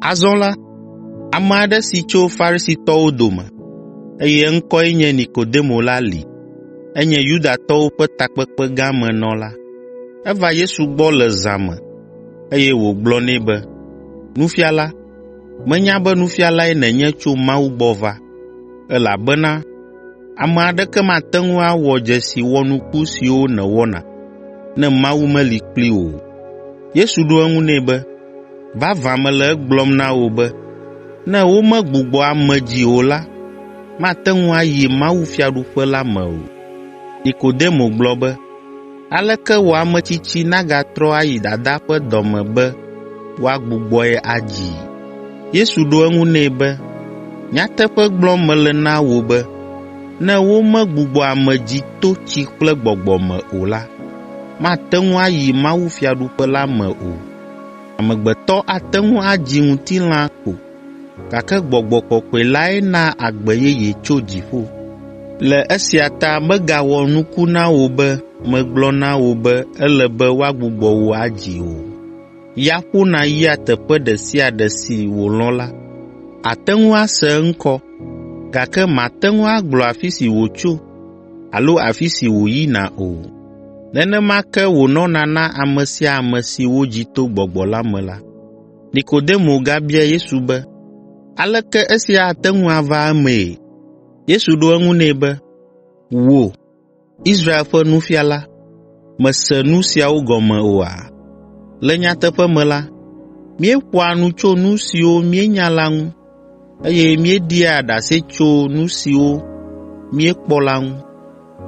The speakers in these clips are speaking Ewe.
Azɔ la, ame aɖe si tso Farisitɔwo dome, eye eŋkɔe nye Nikodemo la li. Enye Yudatɔwo ƒe takpekpegã me nɔla. Eva Yesu gbɔ le zã me, eye wògblɔ nɛ be, “Nufiala, menya be nufialae nènye tso Mawu gbɔ va, elabena Ame aɖeke mate ŋu awɔ dzesi wɔnuku siwo nèwɔna, ne Mawu meli kplii o.” Yesu ɖo eŋu nɛ be, “Vavã mele egblɔm na wò be, ne womegbugbɔ ame dzi o la, mate ŋu ayi mawufiaɖuƒe la me o.” Nikodemo gblɔ be, Aleke wɔ ametsitsi nagatrɔ ayi dadaa ƒe dɔ me be woagbugbɔe adzii?” Yesu ɖo eŋu nɛ be, “Nyateƒe gblɔm mele na wò be, ne womegbugbɔ ame dzi to tsi kple gbɔgbɔ me o la, mate ŋu ayi mawufiaɖuƒe la me o. Amegbetɔ ate ŋu adzi ŋutilã ko, gake Gbɔgbɔ Kɔkɔe lae naa agbe yeye tso dziƒo. Le esia ta megawɔ nuku na wò be megblɔ na wò be ele be woagbugbɔ wò adzi o. Ya ƒona yia teƒe ɖe sia ɖe si wòlɔ̃ la. Àte ŋu ase eŋkɔ, gake màte ŋu agblɔ afi si wòtso alo afi si wòyina o. Nenema ke wònɔna na ame sia ame si wodzi to Gbɔgbɔ la me la.” Nikodemo gabia Yesu be, “Aleke esia ate ŋu ava emee?” Yesu ɖo eŋu nɛ be, “Wò, Israel ƒe nufiala, mèse nu siawo gɔme oa? Le nyateƒe me la, míeƒoa nu tso nu siwo míenya la ŋu eye míeɖia ɖase tso nu siwo míekpɔ la ŋu,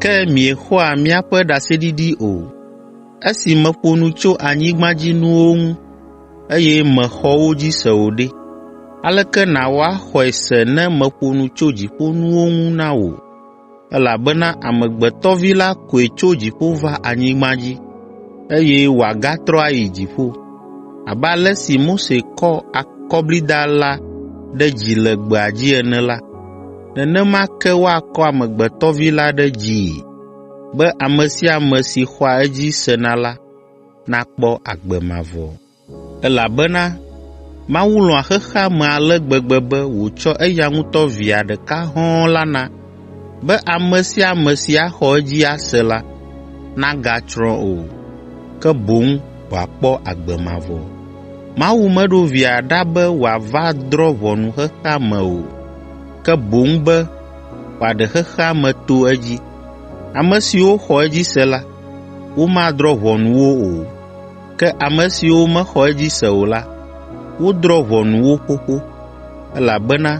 ke miexɔa míaƒe ɖaseɖiɖi o. Esi meƒo nu tso anyigbadzinuwo ŋu, eye mèxɔ wo dzi se o ɖe, aleke nàwɔ axɔe se ne meƒo nu tso dziƒonuwo ŋu na wò? elabena Amegbetɔ Vi la koe tso dziƒo va anyigba dzi, eye wòagatrɔ ayi dziƒo. Abe ale si Mose kɔ akɔblida la ɖe dzi le gbea dzi ene la, nenema ke woakɔ Amegbetɔ Vi la ɖe dzii, be ame sia ame si xɔa edzi sena la nakpɔ agbe mavɔ. Elabena Mawu lɔ̃a xexea me ale gbegbe be wòtsɔ eya ŋutɔ Via ɖeka hɔ̃ɔ la na, be ame sia ame si axɔ edzi ase la, nagatsrɔ̃ o, ke boŋ wòakpɔ agbe mavɔ. Mawu meɖo Via ɖa be wòava drɔ̃ ʋɔnu xexea me o, ke boŋ be wòaɖe xexea me to edzi. Ame siwo xɔ edzi se la, womadrɔ̃ ʋɔnu wo o. Ke ame siwo mexɔ edzi se o la, wodrɔ̃ ʋɔnu wo xoxo, elabena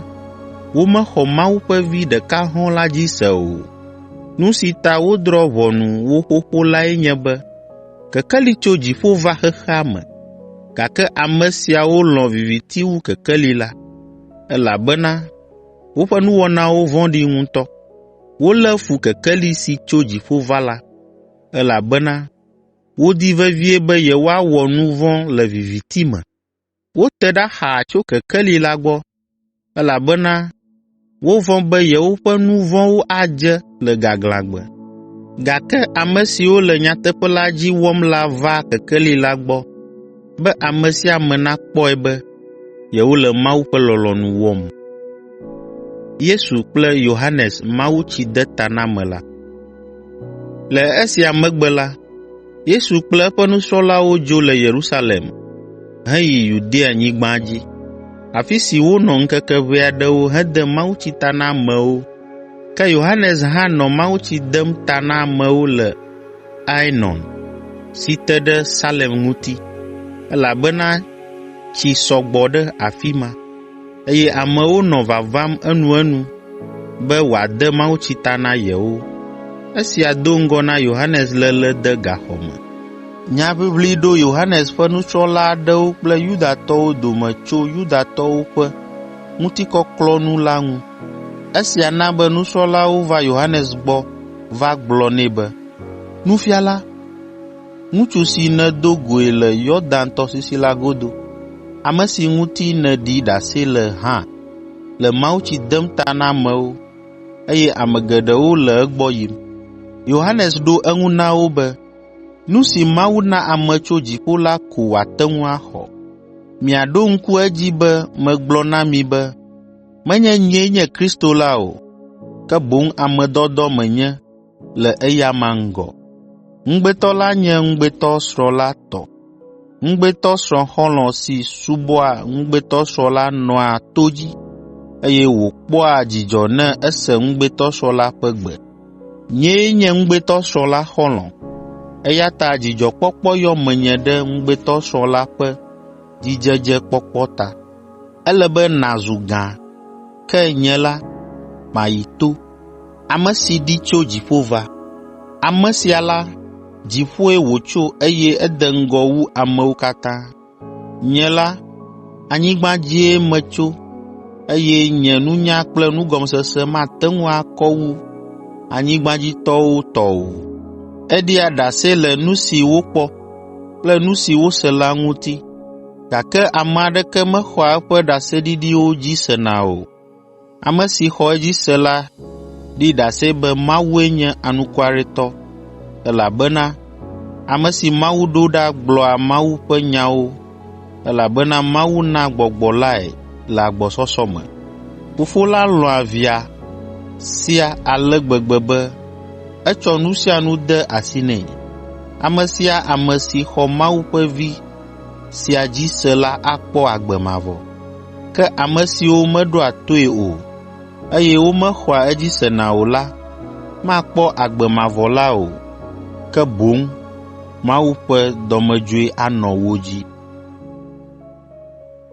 womexɔ Mawu ƒe Vi ɖeka hɔ̃ɔ la dzi se o. Nu si ta wodrɔ̃ ʋɔnu wo xoxo lae nye be kekeli tso dziƒo va xexea me, gake ame siawo lɔ̃ viviti wu kekeli la, elabena woƒe nuwɔnawo vɔ̃ɖi ŋutɔ. Wolé fu kekeli si tso dziƒo va la, elabena wodi vevie be yewoawɔ nu vɔ̃ le viviti me. Wote ɖa xaa tso kekeli la gbɔ, elabena wovɔ̃ be yewoƒe nu vɔ̃wo adze le gaglãgbe. Gake ame siwo le nyateƒe la dzi wɔm la va kekeli la gbɔ. be ame sia ame nakpɔe be yewole Mawu ƒe lɔlɔ̃nu wɔm. Le esia megbe la, Yesu kple eƒe nusrɔ̃lawo dzo le Yerusalem heyi Yudeanyigba dzi, afi si wonɔ ŋkeke ʋɛ aɖewo hede mawutsi ta na amewo. Ke Yohanes hã nɔ mawutsi dem ta na amewo le Ainon si te ɖe Salem ŋuti, elabena tsi sɔ gbɔ ɖe afi ma, eye amewo nɔ vavam enuenu be wòade mawutsi ta na yewo. Esia do ŋgɔ na Yohanes léle de gaxɔ me. Nyaʋiʋli ɖo Yohanes ƒe nusrɔ̃la aɖewo kple Yudatɔwo dome tso Yudatɔwo ƒe ŋutikɔklɔkɔnu la ŋu. Esia na be nusrɔ̃lawo va Yohanes gbɔ va gblɔ nɛ be, “Nufiala, ŋutsu si nèdo goe le Yordan tɔsisi la godo, ame si ŋuti nèɖi ɖase le hã le mawutsi dem ta na amewo, eye ame geɖewo le egbɔ yim.” Yohanes ɖo eŋu na wo be, “Nu si Mawu na ame tso dziƒo la ko wòate ŋu axɔ. Miaɖo ŋku edzi be megblɔ na mi be, Menye nyee nye Kristo la o, ke boŋ ame dɔdɔ menye le eyama ŋgɔ. Ŋugbetɔ la nye ŋugbetɔsrɔ̃ la tɔ. Ŋugbetɔsrɔ̃ xɔlɔ̃ si subɔa ŋugbetɔsrɔ̃ la nɔa to dzi, eye wòkpɔa dzidzɔ ne ese ŋugbetɔsrɔ̃ la ƒe gbe. Nyee nye ŋugbetɔsrɔ̃ la xɔlɔ̃, eya ta dzidzɔkpɔkpɔ yɔ menye ɖe ŋugbetɔsrɔ̃ la ƒe dzidzedzekpɔkpɔ ta. Ele be nàzu gã, ke nye la, mayi to, ame si ɖi tso dziƒo va. Ame sia la, dziƒoe wòtso eye ede ŋgɔ wu amewo katã. Nye la, anyigba dzie metso eye nye nunya kple nugɔmesese mate ŋu akɔ wu anyigbadzitɔwo tɔ o. Eɖia ɖase le nu si wokpɔ kple nu si wose la ŋuti, gake ame aɖeke mexɔa eƒe ɖaseɖiɖiwo dzi sena o. Ame si xɔ edzi se la ɖi ɖase be Mawue nye anukwaretɔ, elabena ame si Mawu ɖo ɖa gblɔa Mawu ƒe nyawo Elabena Mawu naa gbɔgbɔ lae le agbɔsɔsɔ me. Fofo la lɔ̃a Via sia ale gbegbe be etsɔ nu sia nu de asi nɛ. Ame sia ame si xɔ Mawu ƒe Vi sia dzi se la akpɔ agbe mavɔ. Ke ame siwo meɖoa toe o, eye womexɔa edzi sena o la makpɔ agbe mavɔ la o, ke boŋ Mawu ƒe dɔmedzoe anɔ wo dzi.